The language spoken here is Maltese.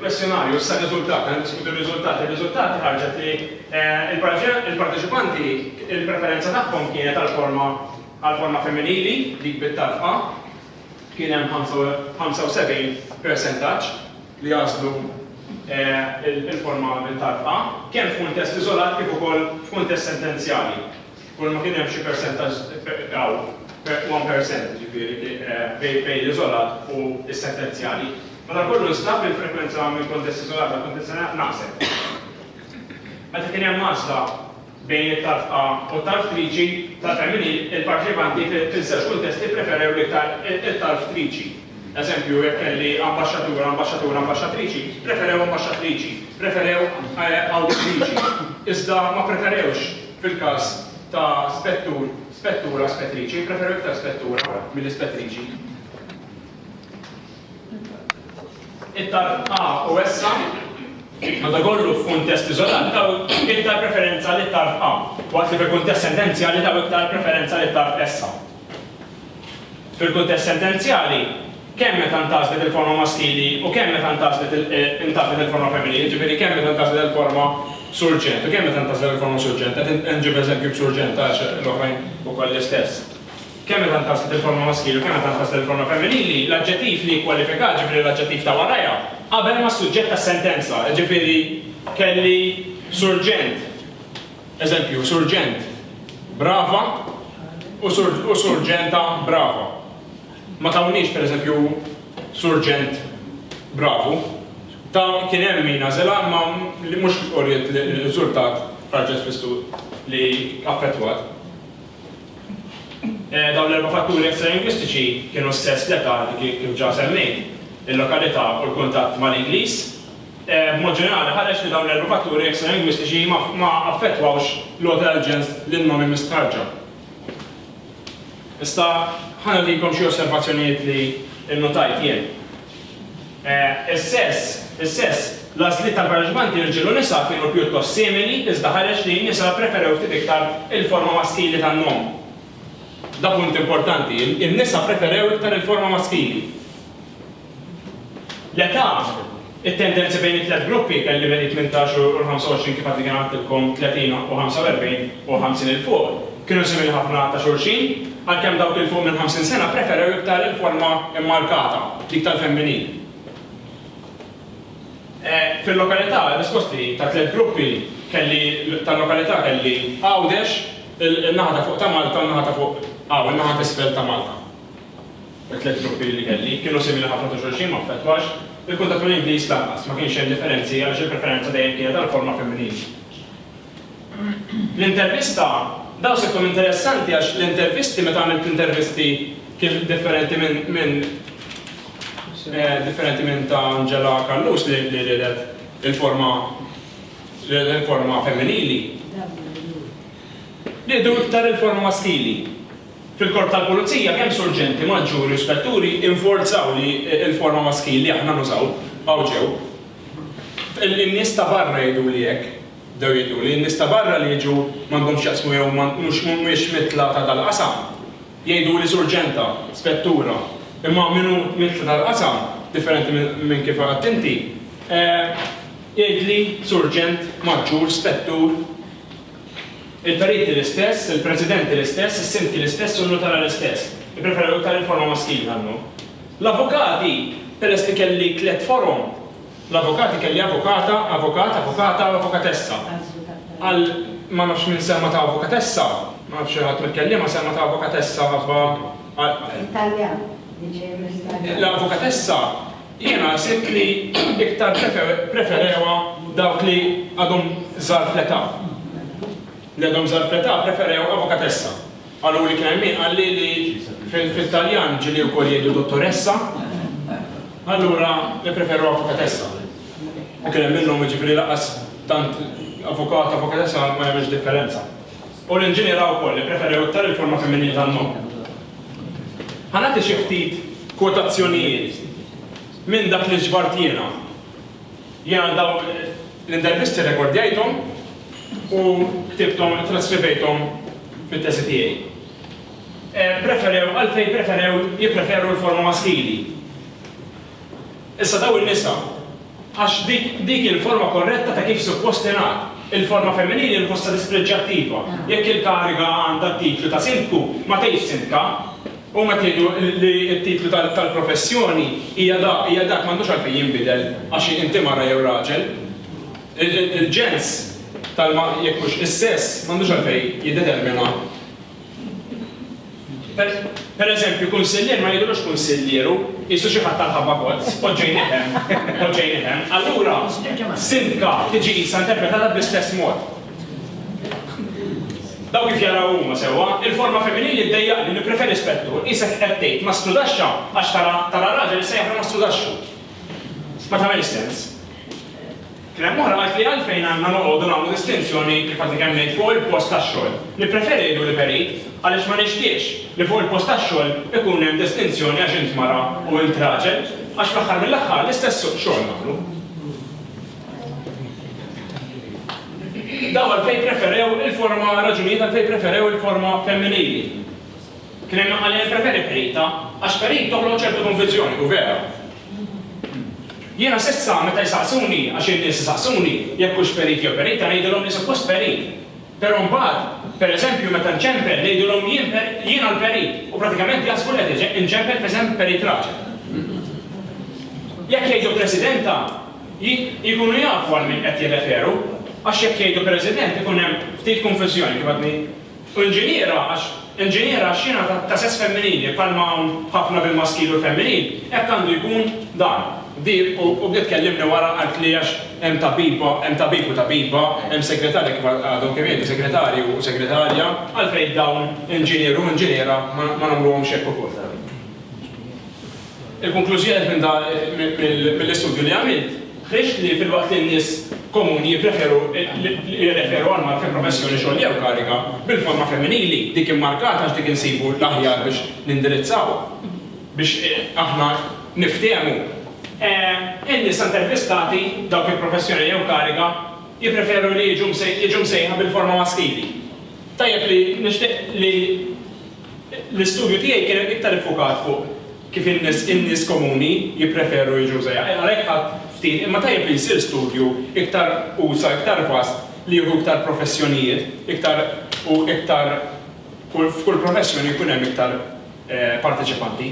il-kwestjonarju sa' riżultat, għan diskutu riżultat, il-riżultat ħarġet li eh, il-parteċipanti il-preferenza tagħhom kienet għal-forma għal-forma femminili dik bit-tarfa kien hemm 75 percentaġġ li jagħżlu l-forma mit-talba, kemm f'kuntest iżolat kif ukoll f'kuntest sentenzjali. Kulma kien hemm xi persentaġġ hawn, one percent, jiġifieri, bejn l-iżolat u s-sentenzjali, madankollu nstab li l-frekwenza mill-kuntest iżolat għall-kuntest sentenzjali naqset. Meta kien hemm għażla, Bejn it-tarfqa u t-tarftriċi ta' Feminin, il-parteċipanti fiż-żewġ kuntesti ppreferew l-iktar it-tarftriċi. Eżempju, jekk kelli ambaxxatur, ambaxxatur, ambaxxatriċi, ppreferew ambaxxatriċi, ppreferew awditriċi, iżda ma ppreferewx fil-każ ta' spettur, spettura, spettriċi, ppreferew iktar spettura milli spettriċi. Iktar A u essa, madankollu, f'kuntest iżolat taw iktar preferenza lit-tarf A, waqt li fil-kuntest sentenzjali taw iktar preferenza lit-tarf essa. Fil-kuntest sentenzjali, kemm meta ntgħażlet il-forma maskili u kemm meta ntgħażlet intgħażlet il-forma femminili, jiġifieri kemm meta ntgħażlet il-forma Surġent u kemm meta ntgħażlet il-forma Surġent, qed inġib eżempju b'Surġent għax l-oħrajn ukoll l-istess. Kemm meta ntgħażlet il-forma maskili u kemm meta ntgħażlet il-forma femminili, l-aġġettiv li jikkwalifika, jiġifieri l-aġġettiv ta' warajha, qabel mas-suġġett tas-sentenza, jiġifieri kelli surġent. Eżempju, surġent brava u surġenta brava. Ma tawniex, pereżempju, surġent bravu. Ta' kien hemm min għażilha imma li mhux uriet riżultat ħarġet fl-istudju li affettwat. Dawn l-erba' fatturi extralingwistiċi kienu s-sess, l-età, kif ġa semmejt, il-lokalità u l-kuntatt mal-Ingliż. B'mod ġenerali ħareġ li dawn l-erba' fatturi extralingwistiċi ma affettwawx l-għoti tal-ġens lin-nomi mistħarrġa. Issa ħa nagħtikom xi osservazzjonijiet li nnutajt jien. Is-sess, Is-sess, L-għażliet tal-parteċipanti rġiel u nisa kienu pjuttost simili iżda ħareġ li n-nisa ppreferew ftit iktar il-forma maskili tan-nom. Da punt importanti, in-nisa ppreferew iktar il-forma maskili. L-età, It-tendenzi bejn it-tliet gruppi, kelli bejn it-tmintax u l-ħamsa u għoxrin kif għadni kemm għedtilkom, 30 u 45 u 50 'il fuq, Kienu simili ħafna ta' xulxin, għalkemm dawk 'il fuq minn 50 sena ppreferew iktar il-forma mmarkata, dik tal-femminil. Fil-lokalità, ir-risposti ta' tliet gruppi kelli tal-lokalità kelli Għawdex, in-naħa ta' fuq ta' Malta u n-naħa ta' fuq hawn, in-naħa t'isfel ta' Malta. It-tliet gruppi li kelli kienu simili ħafna ta' xulxin, ma affettwax il-kuntatt mal-Ingliż lanqas, ma kienx hemm differenzi għaliex il-preferenza dejjem kienet għall-forma femminili. L-intervista, Dawn se jkunu interessanti għax l-intervisti meta għamilt intervisti kif differenti minn minn differenti minn ta' Angela Callus li li riedet il-forma riedet il-forma femminili. Riedu iktar il-forma maskili. Fil-Korp tal-Pulizija kemm surġenti, maġġuri u spetturi inforzaw li il-forma maskili aħna nużaw, baqgħu ġew. In-nies ta' barra jgħiduli hekk. Bdew jgħiduli, n-nies ta' barra li jiġu m'għandhomx x'jaqsmu jew mhumiex mitla ta' dal-qasam. Jgħiduli surġenta, spettura, imma min hu mitla tal-qasam, differenti minn kif għidt inti, jgħidli surġent, maġġur, spettur. Il-periti l-istess, il-presidenti l-istess, is-sindki l-istess u n-nutara l-istess. Ippreferew iktar il-forma maskili tal-lum. L-avukati, peress li kelli tliet forom, L-avukati kelli avukata, avukat, avukata u avukatessa. Qal ma nafx min semma ta' avukatessa, ma nafx xi ħadd mill-kelliema semma ta' avukatessa ħabba għal l-avukatessa jiena ħsibt li iktar ppreferewha dawk li għadhom żgħar fl-età. Li għadhom żgħar fl-età ppreferew avukatessa. Qaluli kien hemm min qalli li fit-Taljan ġieli wkoll jgħidu dottoressa, allura nippreferu avukatessa. U kien hemm minnhom, jiġifieri lanqas tant avukat, avukatessa ma jagħmilx differenza. U l-inġiniera wkoll ippreferew iktar il-forma femminili tan-nom. Ħa nagħti xi ftit kwotazzjonijiet minn dak li ġbart jiena. Jiena dawn l-intervisti rekordjajthom u ktibthom, traskribejthom fit-tesi tiegħi. Ppreferew, għalfejn ppreferew, jippreferu l-forma maskili. Issa dawn in-nisa, għax dik, dik hi l-forma korretta ta' kif suppost tingħad. Il-forma femminili nħossha dispreġġjattiva. Jekk il-kariga għandha t-titlu ta' sindku, ma tgħidx sindka. Huma qed jgħidu li t-titlu tal-professjoni hija dak, hija dak, m'għandux għalfejn jinbidel għax inti mara jew raġel. Il-ġens, jekk hux is-sess, m'għandux għalfejn jiddetermina. Per eżempju, kunsillier ma jgħidulux kunsillier hu, qisu xi ħadd tal-ħabba kozz, poġġejnih hemm, poġġejnih hemm. Allura, sindka tiġi qisha interpretata bl-istess mod. Daw kif jaraw huma sewwa, il-forma femminili ddejjaqni, nippreferi spettur, qisek qed tgħid ma strudaxxa għax tara tara raġel issejjaħlu ma strudaxxu. Ma tagħmilx sens. Kien hemm oħra qaltli għalfejn għandna noqogħdu nagħmlu distinzjoni kif għadni kemm ngħid fuq il-post tax-xogħol. Nippreferi ngħidu li perit għaliex ma nixtieqx li fuq il-post tax-xogħol ikun hemm distinzjoni għax int mara u int raġel għax fl-aħħar mill-aħħar l-istess suq xogħol nagħmlu. Id-dawal fejn preferew il-forma raġunijiet għalfejn preferew il-forma femminili. Kien hemm għalija nippreferi Perita għax Perit toħloq ċertu konvinzjoni, u vera. Jiena s'issa meta jsaqsuni, għax in-nies isaqsuni, jekk hux Perit jew Perita ngħidilhom li suppost Perit. Però mbagħad, per eżempju, meta nċempel ngħidilhom jien jien għal Perit u pratikament jaħsbu li qed inċempel f'isem Perit raġel. Jekk jgħidu Presidenta, li jkunu jafu għal min qed jirreferu għax jekk jgħidu President ikun hemm ftit konfużjoni kif għadni u Inġiniera għax Inġiniera għax jiena ta' sess femminili bħalma hawn ħafna bil-maskil u l-femminil hekk għandu jkun dan. Di u bdiet tkellimni wara qaltli għax hemm tabbiba hemm tabib u tabbiba hemm segretarja kif għadhom kemm jgħidu segretarju u segretarja għalfejn dawn Inġinier u Inġiniera ma nagħmluhomx hekk ukoll. Il-konklużjoni minn dan mill-istudju li għamilt ħriġt li filwaqt li n-nies komuni jippreferu li jirreferu għal mara fi professjoni, xogħol jew kariga bil-forma femminili, dik immarkata għax dik insibu l-aħjar biex nindirizzaw, biex aħna niftehmu, in-nisa intervistati, dawk fi professjoni jew kariga, jippreferu li jiġu msejħa bil-forma maskili. Tajjeb li nixtieq li. L-istudju tiegħi kien iktar iffukat fuq kif in-nies in-nies komuni jippreferu jiġu żgħir. Għalhekk ħadt ftit, imma tajjeb li jsir studju iktar usa', iktar vast, li jieħu iktar professjonijiet, iktar u iktar kull f'kull professjoni jkun hemm iktar parteċipanti.